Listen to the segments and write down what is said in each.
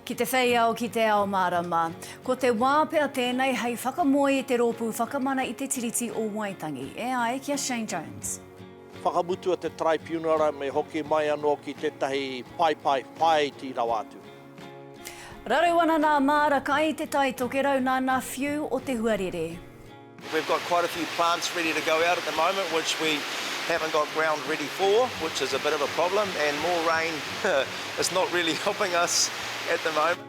Ki te whei ao, ki te ao mārama. Ko te wā pea tēnei hei whakamoe i te Rōpū Whakamana i te Tiriti o Waitangi. E ai ki a Shane Jones. Whakamutua te Taraipiunara me hoki mai anō ki tētahi paepae whāiti rawa atu. Raru ana nā Māra kai te tai tokerau nā nā whiu o te huarere. We've got quite a few plants ready to go out at the moment which we haven't got ground ready for which is a bit of a problem and more rain is not really helping us at the moment.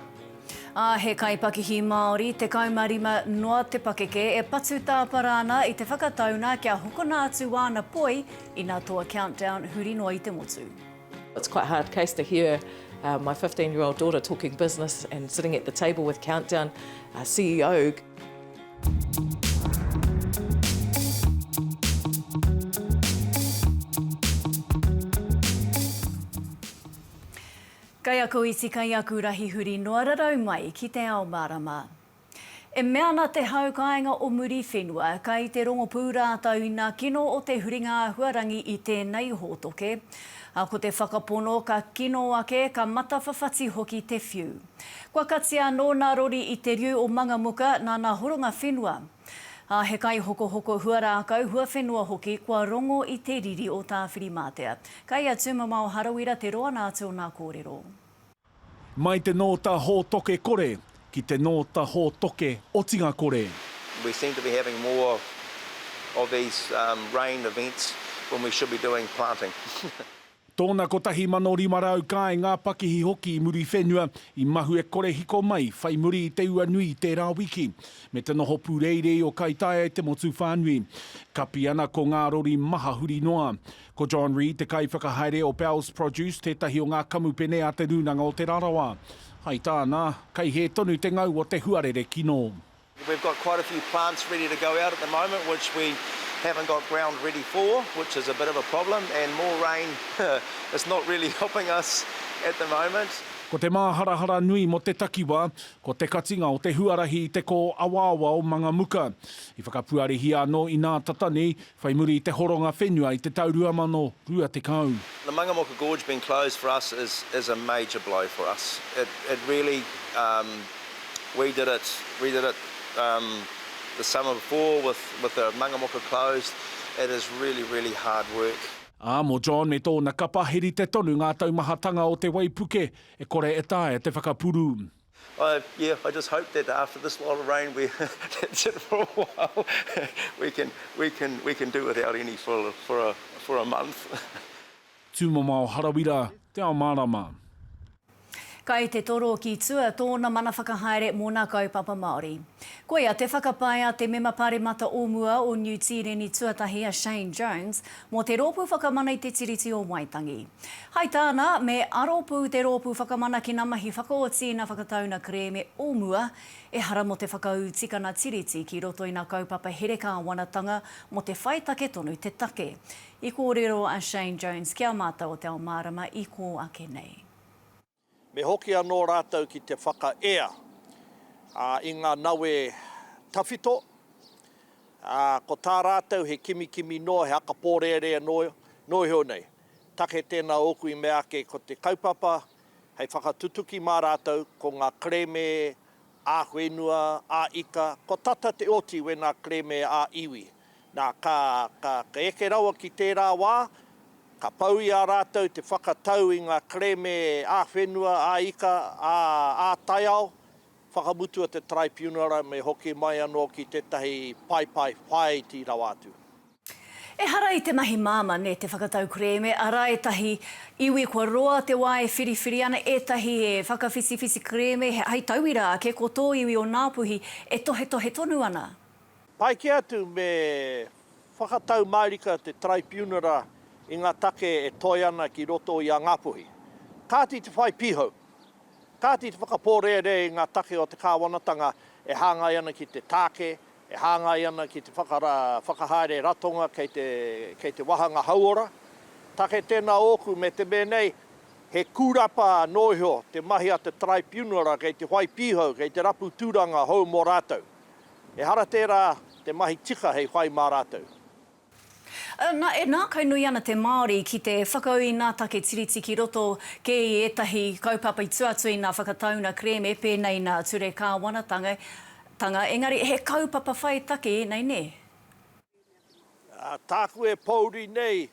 Ā, he kaipakihi Māori, 15 noa te pakeke, e patu tāpara ana i te whakataunga kia hokona atu āna poi ina toa countdown huri noa i te motu. It's quite hard case to hear my 15 year old daughter talking business and sitting at the table with Countdown CEO. Kaiako iti, kaiaku rahi huri noa rarau mai ki te ao marama. E mea ana te hau kāinga o Muriwhenua, kai te rongopū rātou i nā kino o te huringa āhuarangi i tēnei hōtoke. A ko te whakapono ka kino ake, ka matawhawhati hoki te whiu. Kua katia anō nā rori i te riu o Mangamuka nā nā horonga whenua. A he kaihokohoko huarākau, huawhenua hoki kua rongo i te riri o Tāwhirimātea. Kai a Tūmamao Harawira te roa nā atu o nā kōrero. Mai te nōta hōtoke kore ki te nōta hōtoke otinga kore. We seem to be having more of these rain events when we should be doing planting. Tōna 1,500 kāinga pakihi hoki i muri whenua, i mahue kore hiko mai whai muri i te ua nui i tērā wiki. Me te noho pūreirei o Kaitaia i te motu whānui. Kapi ana ko ngā rori maha huri noa. Ko John Reid te kaiwhakahaere o Bell's Produce, tētahi o ngā kamupene a Te Rūnanga o Te Rarawa. Hai tāna, kei hē tonu te ngau o te huarere kino. We've got quite a few plants ready to go out at the moment which we haven't got ground ready for, which is a bit of a problem and more rain is not really helping us at the moment. Ko te māharahara nui mō te takiwā, ko te katinga o te huarahi i te kō awaawa o Mangamuka. I whakapuarehia anō inā tata nei, Whai muri i te horonga whenua i te tau 2020. The Mangamoka Gorge being closed for us is is a major blow for us. It it really um we did it we did it um the summer before with with the Mangamoka closed. It is really really hard work. Ā, mō John me tōna kapa, he rite tonu ngā taumahatanga o te waipuke e kore e taea te whakapuru. I, yeah, I just hope that after this lot of rain we, that's it for a while, we can, we can, we can do without any for, for a, for a month. Tūmamao Harawira, Te Ao Mārama. Kai te toro ki tua tōna mana whakahaere mō nā kaupapa Māori. Koia te whakapae a te Mema Pāremata o mua o Niu Tīreni tuatahi a Shane Jones, mō te Rōpū Whakamana i te Tiriti o Waitangi. Hai tāna, me aro pū te Rōpū Whakamana ki ngā mahi whakaoti i ngā whakataunga kerēme o mua, ehara mō te whakaū tikanga Tiriti ki roto i ngā kaupapa here kāwanatanga mō te whai take tonu te take. I kōrero a Shane Jones ki a mātou o Te Ao Mārama i kō ake nei. Me hoki anō rātou ki te whakaea i ngā nawe tawhito, ā, ko tā rātou he kimikimi noa, he haka pōrērea noa, noiho nei. Take tēnā ōku i mea ake ko te kaupapa hei whakatutuki mā rātou ko ngā kerēme Ā-whenua, ā-ika, kua tata te oti wēnā kerēme ā-iwi. Nā, ka, ka, ka eke rawa ki tērā wā, ka pau i a rātou te whakatau i ngā kerēme ā-whenua, ā-ika, ā, ā-taiao, whakamutua te Taraipiunara me hoki mai anō ki tētahi paepae whāiti rawa atu. Ehara i te mahi māmā, nē te whakatau kerēme, arā ētahi iwi kua roa te wā e whiriwhiri ana, ētahi e whakawhitiwhiti kerēme, hei tauira ake, ko tō iwi o Ngāpuhi e tohetohe tonu ana. Pai kē atu me whakatau mārika te Taraipiunara i ngā take e toe ana ki roto i a Ngāpuhi. Kāti te whai pīhau, kāti te whakapōrearea i ngā take o te kāwanatanga e hāngai ana ki te tāke, E hāngai ana ki te whakara whakahaere ratonga kei te, kei te wahanga hauora. Take tēnā ōku me te me nei, he kūrapa anō iho te mahi a te Taraipiunara kei te whai pīhau, kei te rapu tūranga hou mō rātou. Ehara tērā te mahi tika hei whai mā rātou. Na, e nākau nui ana te Māori ki te whakau i nā take tiriti ki roto kē i ētahi kaupapa i tua atu i nā whakataunga kerēme pēnei nā ture kāwanatanga, engari he kaupapa whai take ēnei, nē? Tāku e pōuri nei,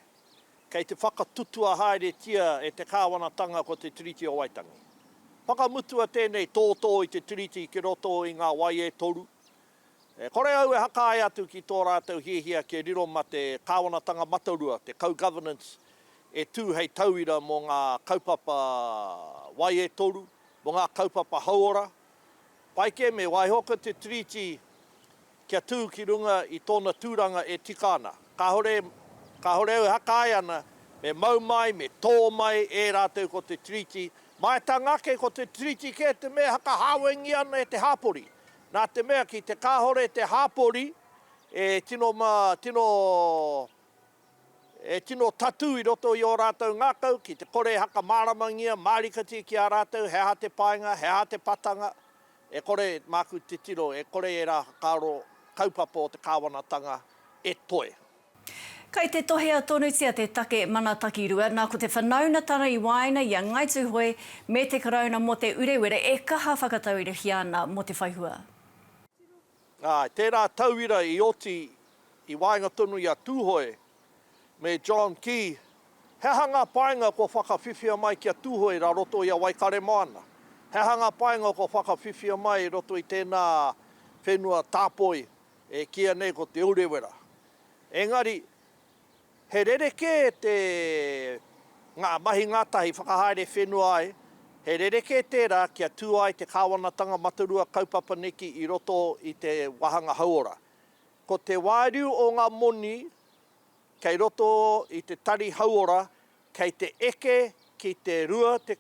kei te whakatutua haeretia e te kāwanatanga ko te Tiriti o Waitangi. Whakamutua tēnei tōtō i te tiriti ki roto i ngā wai e toru, E kore au e hakae atu ki tō rātou hiahia kia riro ma te Kāwanatanga Matarua, te co-governance e tū hei tauira mō ngā kaupapa wai e toru, mō ngā kaupapa hauora. Pai kē me waiho ko te Tiriti kia tū ki runga i tōna tūranga e tika ana. Kāore, kāore au e hakae ana me mau mai, me tō mai e rātou ko te Tiriti. Maeatanga ake ko te Tiriti kē te mea e whakahāwengia ana e te hāpori, Nā te mea ki te kāore te hāpori e tino ma, tino, e tino tatū i roto i ō rātou ngākau, ki te kore e hakamāramangia, mārikatia ki a rātou he aha te painga, he aha te patanga, e kore, māku titiro, e kore ērā whakaaro kaupapa o te kāwanatanga e toe. Kei te tohea tonutia te take Mana Takirua, nā ko te whanaunatanga i waenga i a Ngāi Tūhoe me te Karauna mō Te Urewera e kaha whakatauirihia ana mō te whai hua. Āe, tērā tauira i oti i waenga tonu i a Tūhoe me John Key, he aha ngā painga kua whakawhiwhia mai ki a Tūhoe rā roto i a Waikaremoana? He aha ngā painga kua whakawhiwhia mai i roto i tēnā whenua tāpoi? e kīia nei ko Te Urewera. Engari, he rerekē te, ngā mahi ngātahi whakahaere whenua ai, he rerekē tērā kia tū ai te Kāwanatanga Matarua kaupapa neki i roto i te wāhanga hauora. Ko te wāriu o ngā moni kei roto i te tari hauora kei te eke ki te 20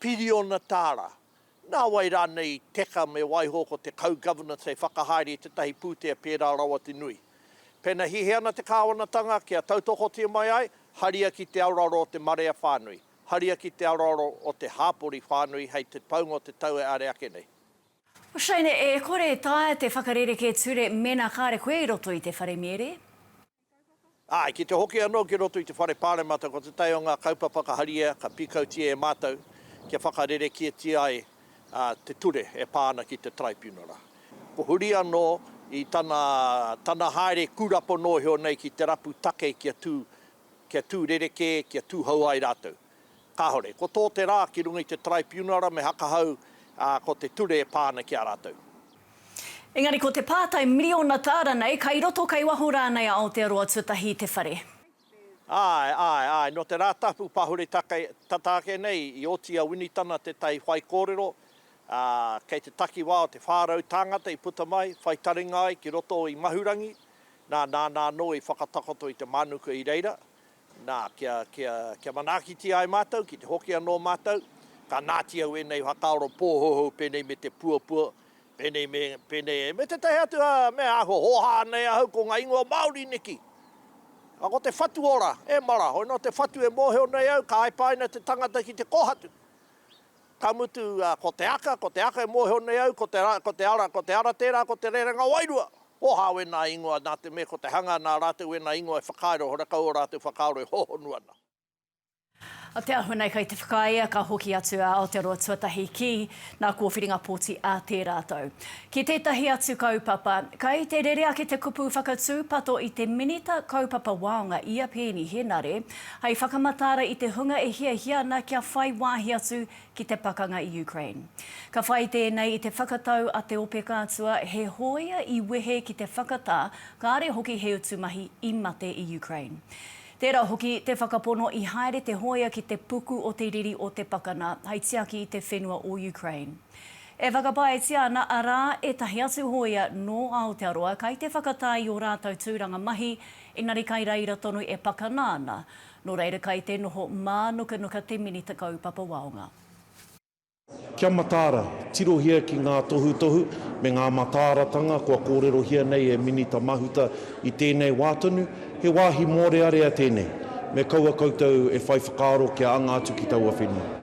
piriona tāra. Nā wai rānei i teka me waiho ko te Kau Governance hei whakahaere i tētahi pūtea pērā rawa te nui? Pēnā hihi ana te kāwanatanga kia tautokotia mai ai, haria ki te aroaro o te marea whānui, haria ki te aroaro o te hāpori whānui hei te paunga o te tau e are ake nei. Shane, E kore e taea te whakarerekē ture mēnā kāre koe i roto i te wharemiere? Āe, ki te hoki anō ki roto i te Whare Pāremata ko te tae o ngā kaupapa ka haria, ka pīkautia e mātou kia whakarerekētia ai te ture e pā ana ki te Taraipiunara. Ko huri anō i tana tana haere kūrapo nōhio nei ki te rapu take kia tū kia tū rerekē, kia tūhou ai rātou. Kāore. Ko tō te rā ki runga i te Taraipiunara me hakahau, ā, ko te ture e pā ana ki a rātou. Engari ko te pātai miriona tāra nei, kai roto, kai waho rānei a Aotearoa tuatahi i te whare? Āe, āe, āe. Nō te Rātapu Pahure tata ake nei, i oti a Winitana tētahi whaikōrero, ā, kei te takiwā o te 400 tāngata i puta mai, whai taringa ai ki roto i Mahurangi, nā, nāna anō i whakatakoto i te mānuka i reira. Nā, kia, kia, kia manaakitia ai mātou, ki te hoki anō mātou, ka nāti au ēnei whakaaro pōhouhou pēnei me te puapua, pēnei me, pēnei e, me tētahi atu ā, mea āhua hōhā nei ahau ko ngā ingoa Māori neki. Ā, ko te whatu ora, e mara, hoi nō te whatu e mōhio nei au, ka aipaina te tangata ki te kōhatu. Ka mutu, ko te aka, ko te aka e mōhio nei au, ko te ara, ko te ara, ko te ara tērā, ko te rerenga wairua. Oha wēnā ingoa, nā te mea ko te hanga nā rātou wēnā ingoa e whakairo, horekau ō rātou whakaaro e hōhonu ana. Oteahu nei kei te whakaea ka hoki atu a Aotearoa Tuatahi ki nā kōwhiringa pōti a Te Rātou. Ki tētahi atu kaupapa, kei te rere ake te kupu whakatūpato i te Minita Kaupapa Waonga i a Peeni Henare, Hei whakamataara i te hunga e hiahia ana kia whai wāhi atu ki te pakanga i Ukraine. Ka whai tēnei i te whakatau a te ope kātua he hōia i wehe ki te whakatā kāre hoki he utu mahi i mate i Ukraine. Tērā hoki te whakapono i haere te hōia ki te puku o te riri o te pakana hei tiaki i te whenua o Ukraine. E whakapaetia ana arā ētahi atu hōia nō Aotearoa kei te whakatā i ō rātou tūranga mahi Engari kai reira tonu e pakana ana, no reira kai te noho mānukanuka te Minita Kaupapa Waonga. Kia mataara, tirohia ki ngā tohutohu me ngā mataaratanga kua kōrerohia nei e Minita Mahuta i tēnei wā tonu, he wāhi mōrearea tēnei, me kaua koutou e whai whakaaro kia anga atu ki taua whenua.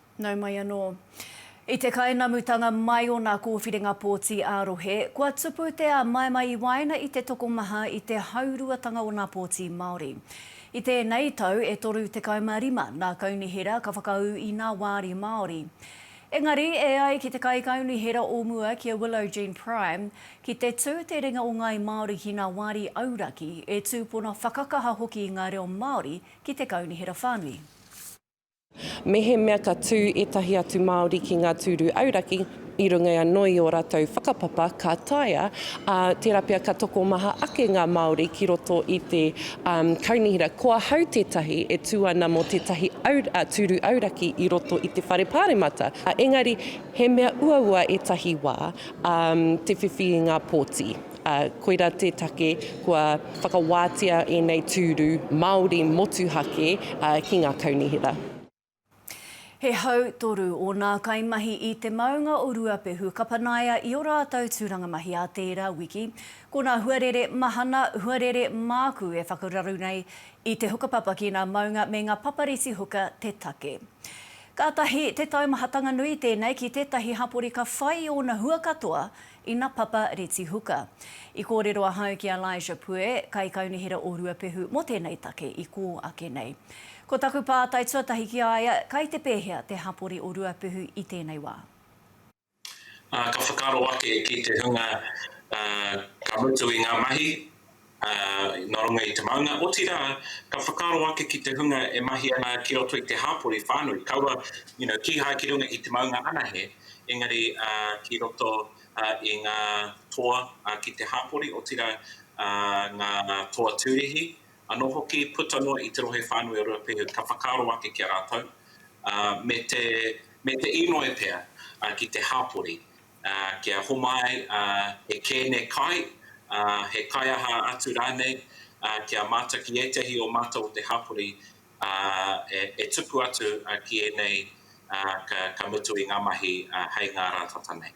Nau mai anō. I te kainamutanga mai o nā kōwhiringa pōti ā-rohe, kua tupu te āmaimai i waenga i te tokomaha i te hauruatanga o nā pōti Māori. I tēnei tau e 35 nā Kaunihera ka whakaū i nā wāri Māori. Engari, e ai ki te Kaikaunihera o mua ki a Willow Jean Prime, ki te tū te ringa o Ngāi Māori ki nā wāri auraki, e tūpono whakakaha hoki ngā reo Māori ki te Kaunihera whānui. Mehemea ka tū ētahi atu Māori ki ngā tūru auraki, i runga anō i ō rātou whakapapa ka taea, ā, tērā pea ka tokomaha ake ngā Māori ki roto i te Kaunihera. Ko ahau tētahi e tū ana mō tētahi tūru auraki i roto i te Whare Pāremata, engari he mea uaua ētahi wā te whiwhi i ngā pōti. ā, koirā te take kua whakawātea ēnei tūru Māori motuhake ki ngā kaunihera. He hau toru ōnā kaimahi i te maunga o Ruapehu ka panaia i o rātou tūranga mahi ā tērā wiki. Ko nā huarere mahana, huarere māku e whakararu nei i te hukapapa ki nā maunga me ngā papariti huka te take. Kātahi te taumahatanga nui tēnei ki tētahi hapori ka whai i ōna hua katoa Ina Papa Retihuka. I kōrero ahau ki a Elijah Pue, Kaikaunihera o Ruapehu mō tēnei take i kō ake nei. Ko taku pātai tuatahi ki a ia, kai te pēhea te hapori o Ruapehu i tēnei wā? Ā, ka whakaaro ake ki te hunga ka mutu i ngā mahi, nā runga i te maunga, otirā, ka whakaaro ake ki te hunga e mahi ana ki roto i te hāpori whānui, kaua, you know, kīhai ki runga i te maunga anahe, engari ki roto i ngā toa ki te hāpori, otirā, ngā toa tūrihi, anō hoki, puta noa i te rohe whānui o Ruapehu, ka whakaaro ake ki a rātou, me te inoi pea ki te hāpori. kia homai he kēne kai, he kaiaha atu rānei, kia mātaki ētehi o mātou o te hapori e tuku atu ki ēnei ka mutu i ngā mahi hei ngā rā tata nei.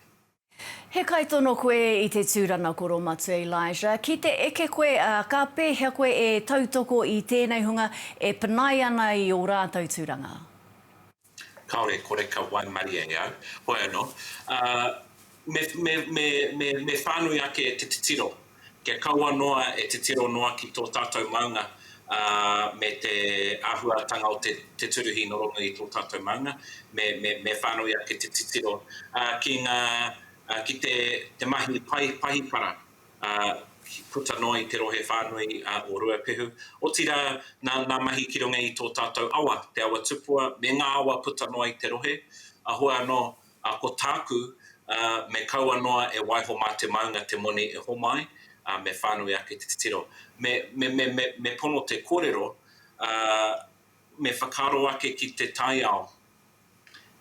He kaitono koe i te tūranga koromatu Elijah. Ki te eke koe, ka pēhea koe e tautoko i tēnei hunga e panaia ana i ō rātou tūranga? Kāore e kore ka waimarie e au. Hoi anō, ā, me, me, me, me, me whānui ake te titiro. Kia kaua noa e titiro noa ki tō tātou maunga, ā, me te āhuatanga o te, te turuhi nō roto i tō tātou maunga, me, me, me whānui ake te titiro, ā, ki ngā, ā, ki te, te mahi pai pahikara. ki puta noa i te rohe whānui o Ruapehu, otirā nā ngā mahi ki runga i tō tātou awa, Te Awa Tupua, me ngā awa puta noa i te rohe, a hua anō, a ko tāku, me kaua noa e waiho mā te maunga te moni e homa ai, a me whānui ake te titiro. Me, me, me, me, me pono te kōrero, a, me whakaaro ake ki te taiao,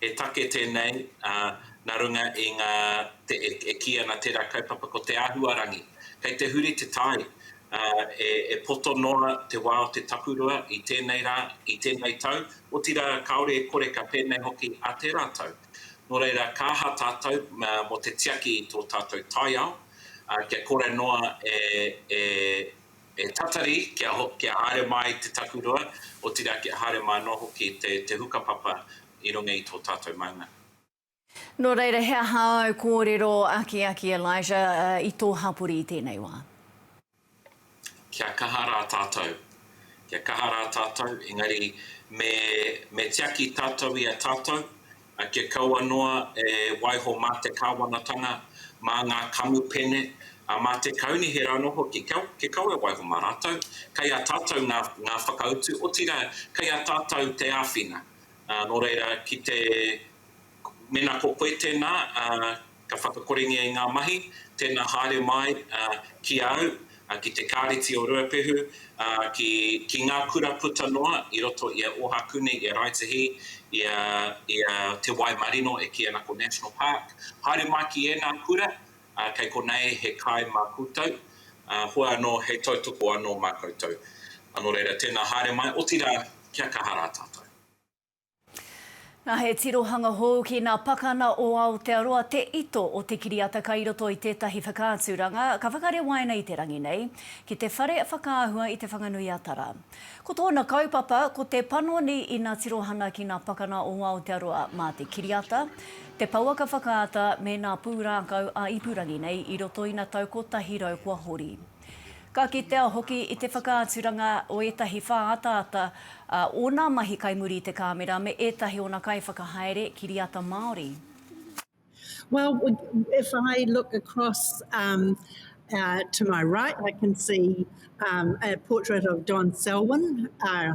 He take tēnei nā runga i ngā e kī ana tērā kaupapa ko te āhuarangi. Kei te huri te tai, e poto noa te wā o te takurua i tēnei rā, i tēnei tau, otirā kāore e kore ka pēnei hoki a tērā tau. Nō reira, ka aha tātou mō te tiaki i tō tātou taiao kia kore noa e. E tatari kia kia haere mai te takurua, otirā kia haere mai anō hoki te te hukapapa i runga i tō tātou maunga. Nō reira, he aha āu kōrero akiaki, Elijah, i tō hapori i tēnei wā? Kia kaha rā tātou. Kia kaha rā tātou, engari me me tiaki tātou i a tātou, kia kaua noa e waiho mā te Kāwanatanga, mā ngā kamupene, ā, mā te kaunihi rānō hoki, kia kaua e waiho mā rātou. Kei a tātou ngā, ngā whakautu, otirā, kei a tātou te āwhina. Nō reira, ki te, mēnā ko koe tēnā, ā, Ka whakakorengia i ngā mahi, tēnā haere mai ki a au, ki te Kāreti o Ruapehu, ki ngā kura puta noa i roto i a Ohakune, i a Raetihi, i a Te Waimarino e kī ana ko National Park. Haere mai ki ēnā kura, kei konei he kai mā koutou, hua anō hei tautoko anō mā koutou. Nō reira, tēnā haere mai, otirā kia kaha rā tātou. Na he tirohanga hou ki na pakana o Aotearoa te ito o te kiriata kai roto i tetahi whakaaturanga ka whakarewaina i te rangi nei ki te whare whakaahua i Te Whanganui-a-Tara. Ko tona kaupapa ko te panoni i na tirohana ki na pakana o Aotearoa ma te kiriata, te pouaka whakaata me na pūrākau a ipurangi nei i roto i na tau kotahi rau kua hori. Ka kitea hoki i te whakaaturanga o ētahi whā ataata a ōna mahi kai muri i te kāmera me ētahi ōna kaiwhakahaere kiriata Māori. Well, if I look across um, uh, to my right, I can see um, a portrait of Don Selwyn, uh,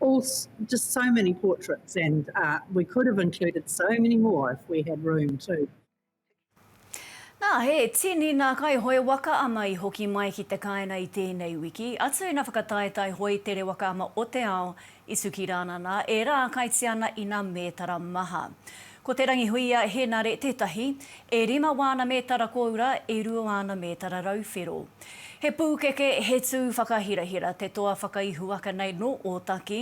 All just so many portraits and uh, we could have included so many more if we had room too. Nā, he tini ngā kaihoe waka ama i hoki mai ki te kāinga i tēnei wiki, atu ina whakataetae hoi tere waka ama o te ao i Tukirānana, ērā kaitiana ina mētara maha. Ko Te Rangihuia Henare tētahi, e rima wāna mētara kōura, e rua āna mētara rauwhero. He pūkeke, he tū whakahirahira te toa whakaihuwaka nei nō Ōtaki.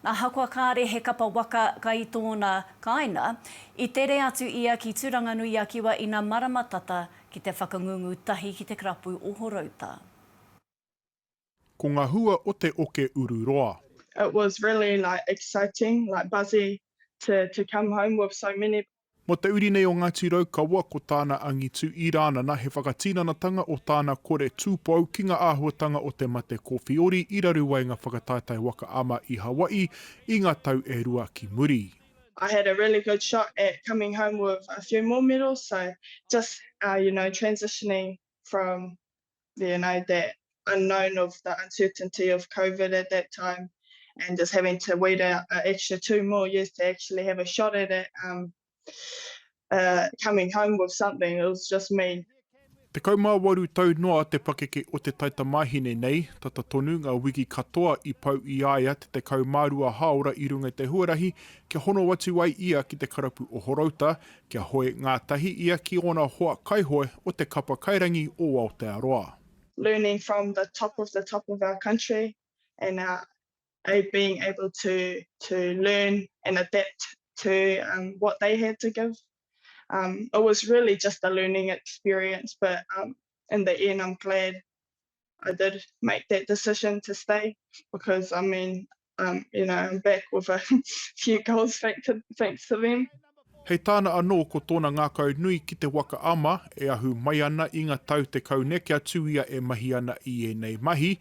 Ahakoa kāre he kapa waka kai tōna kāinga, i tere atu ia ki Turanganui-a-Kiwa ina marama tata ki te whakangungu tahi ki te karapu o Horouta. Ko nga hua o te oke uru roa. It was really like exciting, like buzzy to to come home with so many. Mo te uri nei o Ngati Raukawa ko tāna angitu i Rānana he whakatinanatanga o tāna kore tūpou ki nga āhuatanga o te mate kōwhiori i raru ai nga whakataetae waka ama i Hawaii i nga tau e rua ki muri. I had a really good shot at coming home with a few more medals so just you know transitioning from you know, that unknown of the uncertainty of COVID at that time and just having to wait out uh, extra two more years to actually have a shot at it, um, uh, coming home with something, it was just me. Te kaumāwaru tau noa te pakeke o te taitamahine nei, tata tonu ngā wiki katoa i pau i aia te te kaumārua hāora i runga te huarahi kia hono atu ai ia ki te karapu o Horouta, Kia hoe ngātahi ia ki ōna hoa kaihoe o te kapa kairangi o Aotearoa. learning from the top of the top of our country and our being able to to learn and adapt to what they had to give it was really just a learning experience but in the end I'm glad I did make that decision to stay because I mean, um, you know, I'm back with a few goals thanks to, thanks to them. Hei tāna anō ko tōna ngākau nui ki te waka ama e ahu mai ana i nga tau tekau ne kia tū ia e mahi ana i ēnei mahi,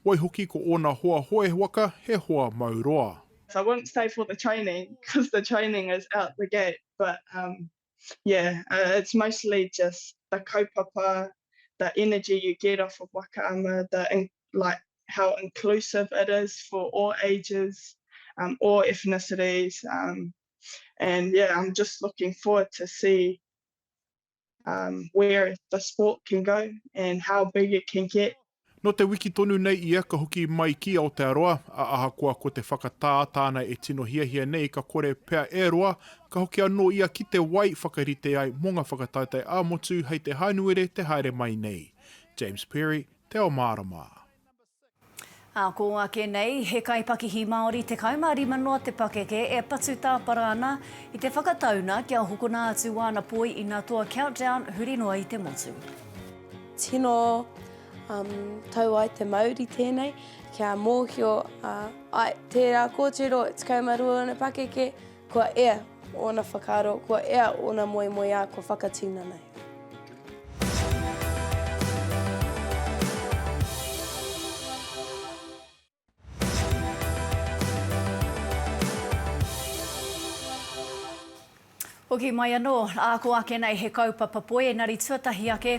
waihoki ko ōna hoa hoe waka he hoa mau roa. So I wouldn't stay for the training because the training is out the gate but um, yeah, uh, it's mostly just the kaupapa, the energy you get off of Wakaama, the in, like how inclusive it is for all ages, um, all ethnicities, um, and yeah, I'm just looking forward to see um, where the sport can go and how big it can get Nō te wiki tonu nei ia ka hoki mai ki Aotearoa, ā, ahakoa ko te whakatā tāna e tino hiahia nei ka kore pea e roa, ka hoki anō ia ki te wai whakarite ai mō ngā whakataetae ā-motu hei te Hānuere te haere mai nei. James Perry, Te Ao Mārama. Ā kō ake nei, he kaipakihi Māori 15 noa te pakeke e patu tāpara ana i te whakatauna kia hokona atu āna poi ina toa countdown huri noa i te motu. Tino um, tau ai te mauri tēnei, kia mōhio a uh, ai tērā kōtiro e tekau ma rua ona pakeke, kua ea ona whakaaro, kua ea ona moemoeā, kua whakatina nei. Hoki mai anō, ā, ko ake nei he kaupapa poi engari tuatahi ake,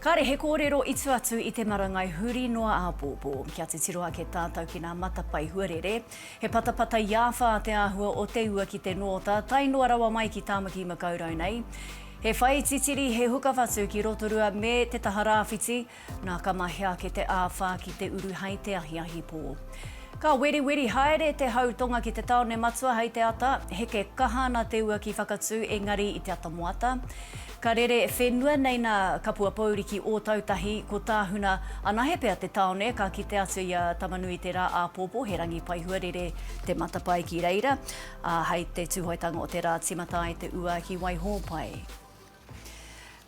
kāre he kōrero i tua atu i te marangai huri noa āpōpō. Kia titiro ake tātou ki nā matapae huarere, he patapata i āwhā te āhua o te ua ki te nōta, tae noa rawa mai ki Tāmaki Makaurau nei. He whai titiri, he hukawhatu ki Rotorua me te taha rāwhiti, Nā, ka mahea ake te āwhā ki te uru hei te ahiahi pō. Ka weriweri haere te hau tonga ki te tāone matua hei te ata. Heke kaha ana te ua ki Whakatū, engari i te ata moata. Ka rere whenua nei nā Kapuapouri ki Ōtautahi, ko Tāhuna. Anahe pea te tāone, ka kite atu i a Tamanui te rā āpōpō, he rangi paihua rere te matapae ki reira, ā, hei te tūhoetanga o te rā tīmata ai te ua ki Waihōpai.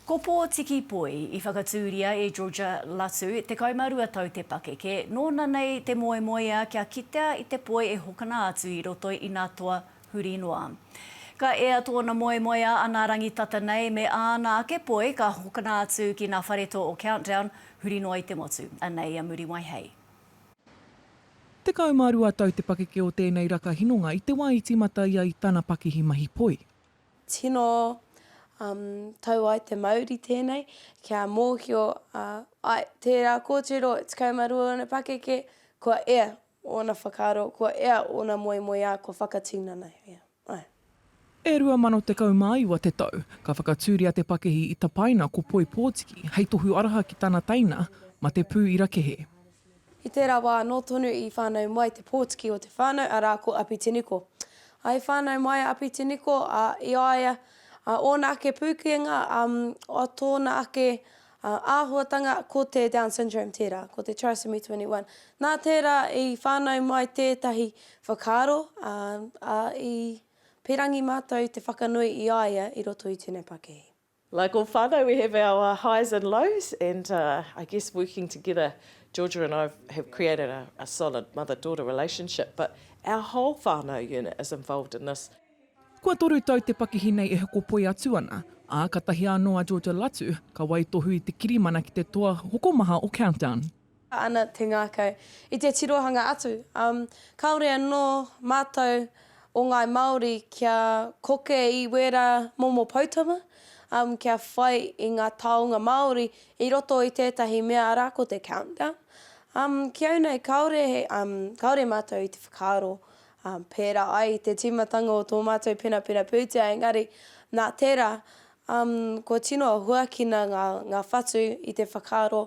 Ko Pōtiki Poi i whakatūria e Georgia Latu, 12 tau te pakeke, nōna nei te moemoeā kia kitea i te poi e hokona atu i roto i nā toa huri noa. Ka ea tōna moemoeā anā rangi tata nei me āna ake poi ka hokona atu ki nā wharetō o Countdown huri noa i te motu, anei a Muriwai hei. 12 tau te pakeke o tēnei raka hinonga i te wā i tīmata ia i tana pakihi mahi poi. Tino um, tau ai te mauri tēnei, kia mōhio uh, ai tērā kōtiro e 12 ōna pakeke, kua ea ōna whakaaro, kua ea ōna moemoeā, kua whakatinanahia. Ai. E 2019 te tau, ka whakatūria te pakihi i tapaina ko Poipōtiki hei tohu araha ki tana teina ma te pū i Rakehe. I tērā wā anō tonu i whānau mai te pōtiki o te whānau, arā, ko Apitiniko. I whānau mai a Apitiniko, ā, i a ia, ā, ōna ake pūkenga, ā, ā tōna ake, ā, āhuatanga, ko te Down Syndrome tērā, ko te Trisomy 21. Nā tērā i whānau mai tētahi whakaaro, ā, ā, i pērangi mātou te whakanui i a ia i roto i tēnei pakihi. Like all whanau we have our highs and lows and I guess working together Georgia and I have created a solid mother daughter relationship but our whole whanau unit is involved in this. Kua toru tau te pakihi nei e hokopoi atu ana, ā, ka tahia anō a Georgia Latu, ka waitohu i te kirimana ki te toa hokomaha o Countdown. ana te ngākau i te tirohanga atu, ā, kāore anō mātou o Ngāi Māori kia koke i wērā momo poutama, ā, kia whai i ngā taonga Māori i roto i tētahi mea arā ko te countdown. Ā, ki au nei kāore, kāore mātou i te whakaaro pērā ai i te tīmatanga o tō mātou penapena pūtea engari nā tērā, ā, kua tino huakina ngā whatu i te whakaaro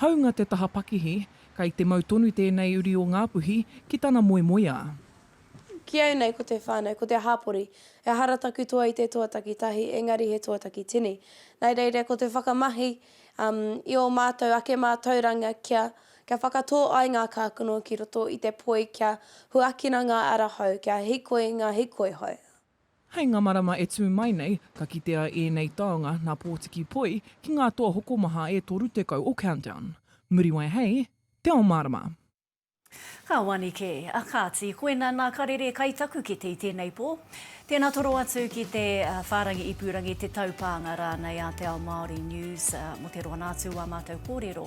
Hāunga te taha pakihi, kei te mau tonu tēnei uri o Ngāpuhi ki tana moemoeā. Ki au nei ko te whānau, ko te hāpori. Ehara taku toa i te toa takitahi, engari he toa takitini. Nai reira ko te whakamahi i ō mātou ake mātauranga kia kia whakatō ai ngā kākano ki roto i te poi kia huakina ngā ara hou, kia hikoi ngā hikoi hou. Hei ngā marama e tū mai nei, ka kitea ēnei taonga nā Pōtiki Poi ki ngā toa hokomaha e 30 o Countdown. Muriwai hei Te Ao Mārama! Ka wanike, a Kāti, koina nā karere kai taku kete i tēnei pō. Tēnā toro atu ki te whārangi ipurangi, te taupānga rānei a Te Ao Māori News mō te roa nā atu o ā mātou kōrero.